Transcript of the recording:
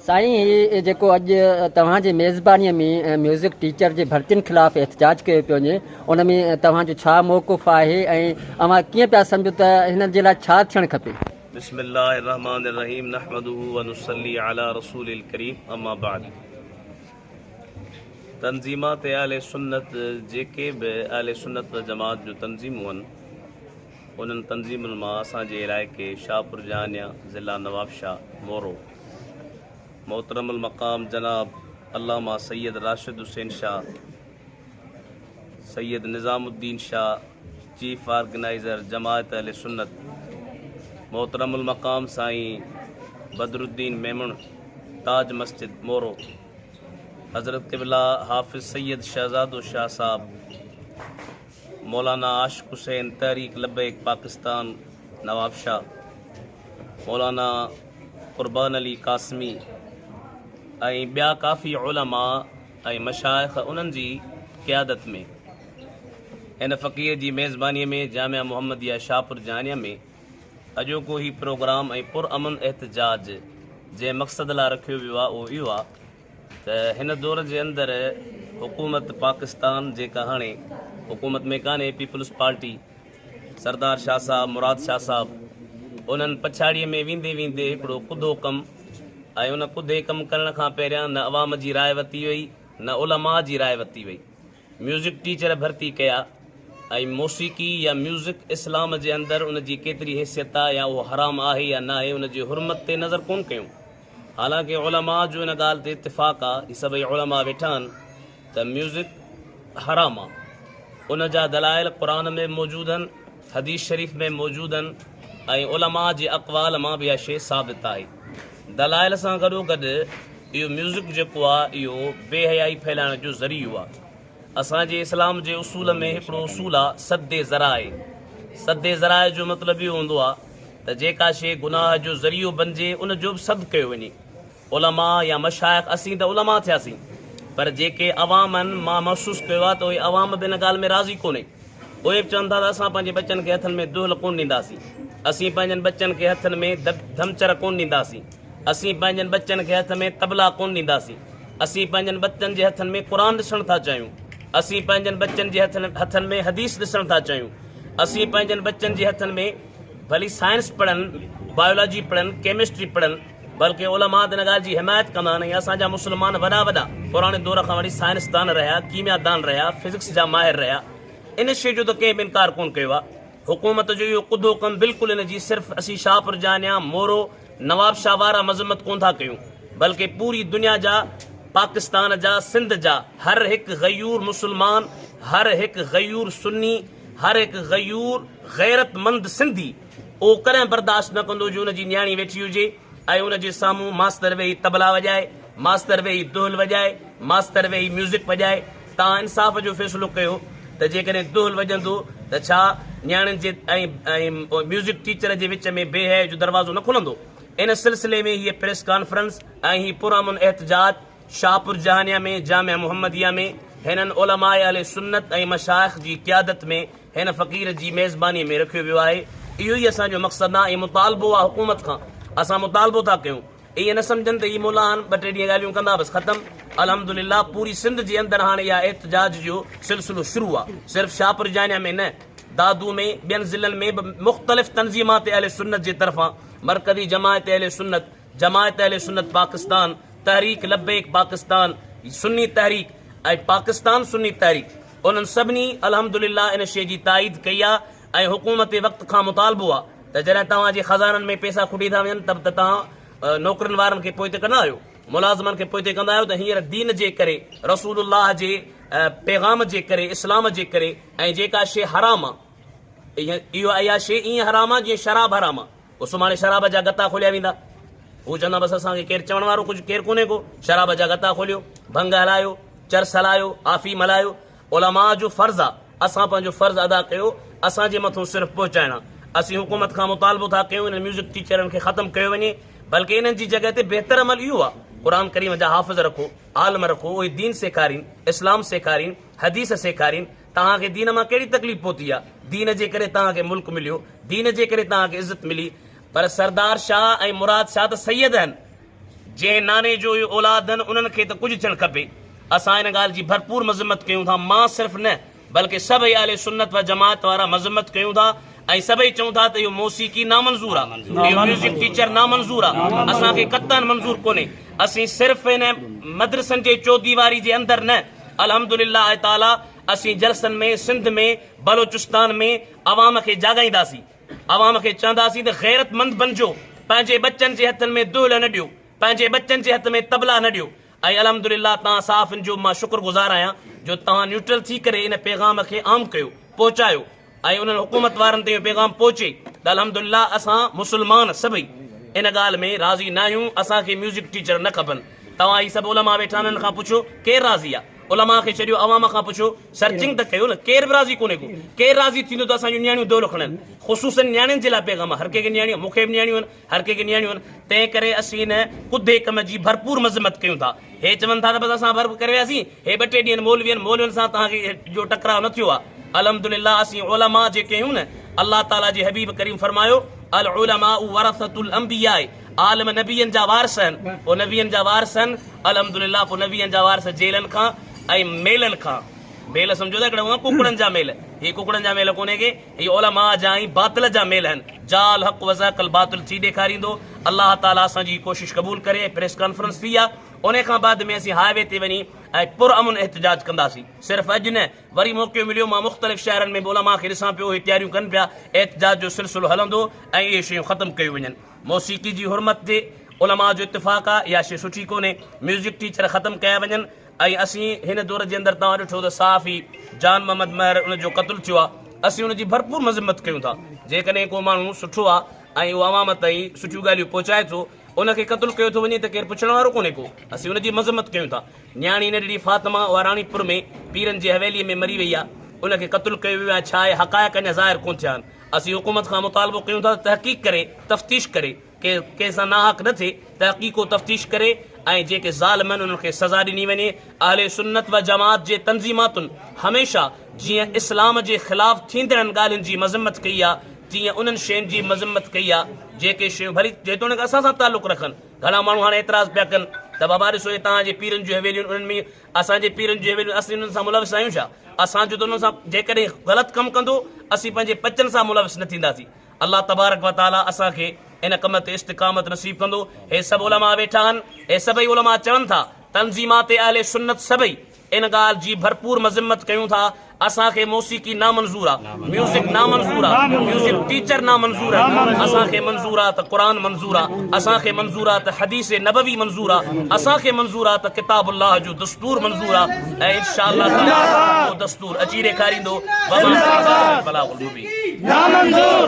سائين هي جيڪو اڄ توهان جي ميزبانيء ۾ ميوزڪ ٽيچر جي ڀرتين خلاف احتجاج ڪيو پيو وڃي ان ۾ توهان جو ڇا موقف آهي ۽ اوهان ڪيئن پيا سمجهو ته هن جي لاء ڇا ٿيڻ کپي؟ بسم الله الرحمٰن الرحيم نحمده ونصلي علي رسول الڪريم اما بعد تنظيمات اهل سنت جيڪي به اهل سنت والجماعت جون تنظيمون هن انهن تنظيمن مان اسان جي علائقي شاهپور جهانيان ضلع نوابشاهه مورو محترم المقام جناب علامه سيد راشد حسين شاهه سيد نظام الدين شاهه چيف آرگنائزر جماعت اهل سنت محترم المقام سائين بدر الدين ميمڻ تاج مسجد مورو حضرت قبلہ حافظ سید شہزاد شاہ صاحب مولانا عاشق حسين، تحريڪ لبيڪ پاڪستان نوابشاهه، مولانا قربان علي قاسمي ۽ ٻيا ڪافي علماء ۽ مشائخ انهن جي قيادت ۾ هن فقير جي ميزبانيء ۾ جامع محمديه شاهپور جهانيه ۾ اڄوڪو هي پروگرام ۽ پرامن احتجاج جنهن مقصد لاء رکيو ويو آهي اهو اهو آهي ته هن دور جي اندر حڪومت پاڪستان جيڪا هاڻي حڪومت ۾ ڪانهي پيپلز پارٽي سردار شاهه صاحب مراد شاهه صاحب انهن پڇاڙيء ۾ ويندي ويندي هڪڙو ڪڌو ڪم ۽ ان ڪڌي ڪم ڪرڻ کان پهريان نه عوام جي راء وتي وئي نه علماء جي راء وتي وئي ميوزڪ ٽيچر ڀرتي ڪيا ۽ موسيقي يا ميوزڪ اسلام جي اندر ان جي ڪيتري حيثيت آهي يا اهو حرام آهي يا ناهي ان جي حرمت تي نظر ڪون ڪيون حالانڪ علماء جو ان ڳالهه تي اتفاق آ، هي سڀئي علماء ويٺا آهن ته ميوزڪ حرام آ. ان جا دلائل قرآن ۾ به موجود آهن، حديث شريف ۾ به موجود آهن ۽ علماء جي اقوال مان به اها شيء ثابت آهي. دلائل سان گڏوگڏ اهو ميوزڪ جيڪو آ اهو بي حيائي ڦهلائڻ جو ذريعو آ. اسان جي اسلام جي اصول ۾ هڪڙو اصول آ سد ذرائع سد ذرائع جو مطلب اهو هوندو آ ته جيڪا شيء گناهه جو ذريعو بنجي ان جو به سد ڪيو وڃي علماء يا مشائخ اسين ته علماء ٿياسين پر جيڪي عوام آهن مان محسوس ڪيو آ ته اهي عوام به ان ڳالهه ۾ راضي ڪونهي اهي به چون ٿا ته اسان پنهنجي ٻچن کي هٿن ۾ دهل ڪون ڏينداسين اسين پنهنجن ٻچن کي هٿن ۾ ڌمچر ڪون ڏينداسين اسين پنهنجن ٻچن کي هٿ ۾ طبلا ڪونه ڏينداسين. اسين پنهنجن ٻچن جي هٿن ۾ قرآن ڏسڻ ٿا چاهيون. اسين پنهنجن ٻچن جي هٿن ۾ حديث ڏسڻ ٿا چاهيون. اسين پنهنجن ٻچن جي هٿن ۾ ڀلي سائنس پڙهن، بايولاجي پڙهن، ڪيمسٽري پڙهن. بلڪه علماء ته ان ڳالهه جي حمايت ڪندا آهن ۽ اسان جا مسلمان وڏا وڏا پراڻي دور کان وٺي سائنسدان رهيا، ڪيميا دان رهيا، فزڪس جا ماهر رهيا. ان شيء جو ته ڪنهن به انڪار ڪونه ڪيو آهي. حڪومت جو اهو ڪڌو ڪم بلڪل ان جي صرف اسين شاهپور جانيان، مورو، نواب شاهه وارا مذمت ڪون ٿا ڪيون بلڪه پوري دنيا جا پاڪستان جا سنڌ جا هر هڪ غيور مسلمان هر هڪ غيور سني هر هڪ غيور غيرت مند سنڌي اهو ڪڏهن برداشت نه ڪندو جو ان جي نياڻي ويٺي هجي ۽ ان جي سامهون ماستر ويهي طبلا وڄائي ماستر ويهي دهل وڄائي ماستر ويهي ميوزڪ وڄائي تان انصاف جو فيصلو ڪيو ته جيڪڏهن دهل وڄندو ته ڇا نياڻين جي ۽ ميوزڪ ٽيچر جي وچ ۾ بي حيائي جو دروازو نه کلندو؟ ان سلسلي ۾ هيء پريس ڪانفرنس ۽ هي پرامن احتجاج شاهپور جهانيان ۾ جامع محمديه ۾ هنن علماء اهل سنت ۽ مشائخ جي قيادت ۾ هن فقير جي ميزباني ۾ رکيو ويو آهي. اهو ئي اسان جو مقصد ۽ مطالبو آهي حڪومت کان. اسان مطالبو ٿا ڪيون. ائين نه سمجهن ته هي مولان ٻه ٽي ڏينهن ڳالهيون ڪندا بس ختم. الحمدلله پوري سنڌ جي اندر هاڻي اها احتجاج جو سلسلو شروع آ صرف شاهپور جانيا ۾ نه دادو ۾ ٻين ضلعن ۾ به مختلف تنظيمات اهل سنت جي طرفان مرڪزي جماعت اهل سنت جماعت اهل سنت پاڪستان تحريڪ لبيڪ پاڪستان سني تحريڪ ۽ پاڪستان سني تحريڪ انهن سڀني الحمدلله ان شي جي تائيد ڪئي آ ۽ حڪومت وقت کان مطالبو آ ته جڏهن توهان جي خزانن ۾ پئسا کٽي ٿا وڃن ته ته توهان نوڪرن وارن کي پوئتي ڪندا آهيو، ملازمن کي پوئتي ڪندا آهيو ته هينئر دين جي ڪري، رسول الله جي پيغام جي ڪري، اسلام جي ڪري ۽ جيڪا شيء حرام آ اهو اها شيء ائين حرام آ جيئن شراب حرام آ، پوء سڀاڻي شراب جا غطا کوليا ويندا. هو چوندا بس اسان کي ڪير چوڻ وارو ڪجهه ڪير ڪونهي ڪو، شراب جا غطا کوليو، ڀنگ هلايو، چرس هلايو، آفيم هلايو، علماء جو فرض آ اسان پنهنجو فرض ادا ڪيو اسان جي مٿون صرف پهچائڻ آ اسين حڪومت کان مطالبو ٿا ڪيون انهن ميوزڪ ٽيچرن کي ختم ڪيو وڃي بلڪه انهن جي جڳهه تي بهتر عمل اهو آ قرآن ڪريم جا حافظ رکو عالم رکو اهي دين سيکارين اسلام سيکارين حديث سيکارين توهان کي دين مان ڪهڙي تڪليف پهتي آ دين جي ڪري توهان کي ملڪ مليو دين جي ڪري توهان کي عزت ملي پر سردار شاهه ۽ مراد شاهه ته سيد آهن جنهن ناني جو اهي اولاد آهن، انهن کي ته ڪجهه ٿيڻ کپي. اسان ان ڳالهه جي ڀرپور مذمت ڪيون ٿا، مان صرف نه بلڪه سڀئي اهل سنت و جماعت وارا مذمت ڪيون ٿا ۽ سڀئي چئون ٿا ته اهو موسيقي نامنظور آ، اهو ميوزڪ ٽيچر نامنظور آ، اسان کي قطعا منظور ڪونهي. اسين صرف هن مدرسن جي چوديواري جي اندر نه الحمد لله تعاليٰ اسين جلسن ۾ سنڌ ۾ بلوچستان ۾ عوام کي جاڳائينداسين. عوام کي چونداسين ته غيرتمند بنجو، پنهنجي ٻچن جي هٿن ۾ دهل نه ڏيو، پنهنجي ٻچن جي هٿ ۾ طبلا نه ڏيو ۽ الحمدلله توهان صحافين جو مان شڪر گذار آهيان جو توهان نيوٽرل ٿي ڪري ان پيغام کي عام ڪيو، پهچايو ۽ انهن حڪومت وارن تائين اهو پيغام پهچي ته الحمدلله اسان مسلمان سڀئي ان ڳالهه ۾ راضي ناهيون، اسان کي ميوزڪ ٽيچر نه کپن، توهان هي سڀ علماء ويٺا آهن انهن کان پڇو ڪير راضي آهي؟ علماء کي ڇڏيو عوام کان پڇو سرچنگ ته ڪيو نه ڪير به راضي ڪونهي ڪو ڪير راضي ٿيندو ته اسان جون نياڻيون دولو کڻن خصوصا نياڻين جي لاء پيغام هر ڪنهن کي نياڻيون مون کي به نياڻيون آهن هر ڪنهن کي نياڻيون آهن تنهن ڪري اسين هن ڪڌي ڪم جي ڀرپور مذمت ڪيون ٿا هي چون ٿا ته بس اسان ڀرپ ڪري وياسين هي ٻه ٽي ڏينهن مولوين مولوين سان توهان کي جو ٽڪراء نه ٿيو آهي الحمدلله اسين علماء جيڪي آهيون نه الله تعاليٰ جي حبيب ڪريم فرمايو العلماء ورثة الانبياء عالم نبين جا وارث هن پوء نبين جا وارث هن الحمدلله پوء نبين جا وارث جيلن کان ۽ ميلن کان ميل سمجهو ٿا ڪهڙا هئا ڪڪڙن جا ميل هي ڪڪڙن جا ميل ڪونهي ڪي هي علماء جا ۽ باطل جا ميل هن جاء الحق وزهق الباطل ٿي ڏيکاريندو الله تعالي اسان جي هي ڪوشش قبول ڪري ۽ پريس ڪانفرنس ٿي آ انهي کان بعد ۾ اسين هاء وي تي وڃي ۽ پر امن احتجاج ڪنداسين صرف اڄ نه وري موقعو مليو مان مختلف شهرن ۾ به علماء کي ڏسان پيو هي تياريون ڪن پيا احتجاج جو سلسلو هلندو ۽ اهي شيون ختم ڪيون وڃن موسيقي جي حرمت تي علماء جو اتفاق آ اها شي سٺي ڪونهي ميوزڪ ٽيچر ختم ڪيا وڃن ۽ اسين هن دور جي اندر توهان ڏٺو ته صحافي جان محمد مهر ان جو قتل ٿيو آ اسين ان جي ڀرپور مذمت ڪيون ٿا جيڪڏهن ڪو ماڻهو سٺو آ ۽ اهو عوام تائين سٺيون ڳالهيون پهچائي ٿو ان کي قتل ڪيو ٿو وڃي ته ڪير پڇڻ وارو ڪونهي ڪو اسين ان جي مذمت ڪيون ٿا نياڻي ننڍڙي فاطمه اها راڻيپور ۾ پيرن جي حويلي ۾ مري وئي آ ان کي قتل ڪيو ويو آ ڇا اهي حقائق اڃا ظاهر ڪون ٿيا آهن اسين حڪومت کان مطالبو ڪيون ٿا ته تحقيق ڪري تفتيش ڪري ڪي ڪنهن سان ناحق نه ٿئي تحقيق و تفتيش ڪري ۽ جيڪي ظالم آهن انهن کي سزا ڏني وڃي اهل سنت و جماعت جي تنظيماتن هميشه جيئن اسلام جي خلاف ٿيندڙن ڳالهين جي مذمت ڪئي آهي تيئن انهن شين جي مذمت ڪئي آهي جيڪي شيون ڀلي جيتوڻيڪ اسان سان تعلق رکن گهڻا ماڻهو هاڻي اعتراض پيا ڪن ته بابا ڏسو هي توهان جي پيرن جون حويليون انهن ۾ اسان جي پيرن جون حويليون اسين انهن سان ملوث آهيون ڇا؟ اسان جو ته انهن سان جيڪڏهن غلط ڪم ڪندو اسين پنهنجي ٻچن سان ملوث نه ٿينداسين. الله تبارڪ و تعاليٰ اسان کي ان ڪم تي استقامت نصيب ڪندو. هي سڀ علماء ويٺا آهن، هي سڀئي علماء چون ٿا، تنظيمات اهل سنت سڀئي ان ڳالهه جي ڀرپور مذمت ڪيون ٿا اسان کي موسيقي نامنظور آ ميوزڪ نامنظور آ ميوزڪ ٽيچر نامنظور آ اسان کي منظور آ ته قرآن منظور آ اسان کي منظور آ ته حديث نبوي منظور آ اسان کي منظور آ ته ڪتاب الله جو دستور منظور آ ۽ انشاء الله تعالي اهو دستور اچي ڏيکاريندو زنداباد بلاغ المبين نامنظور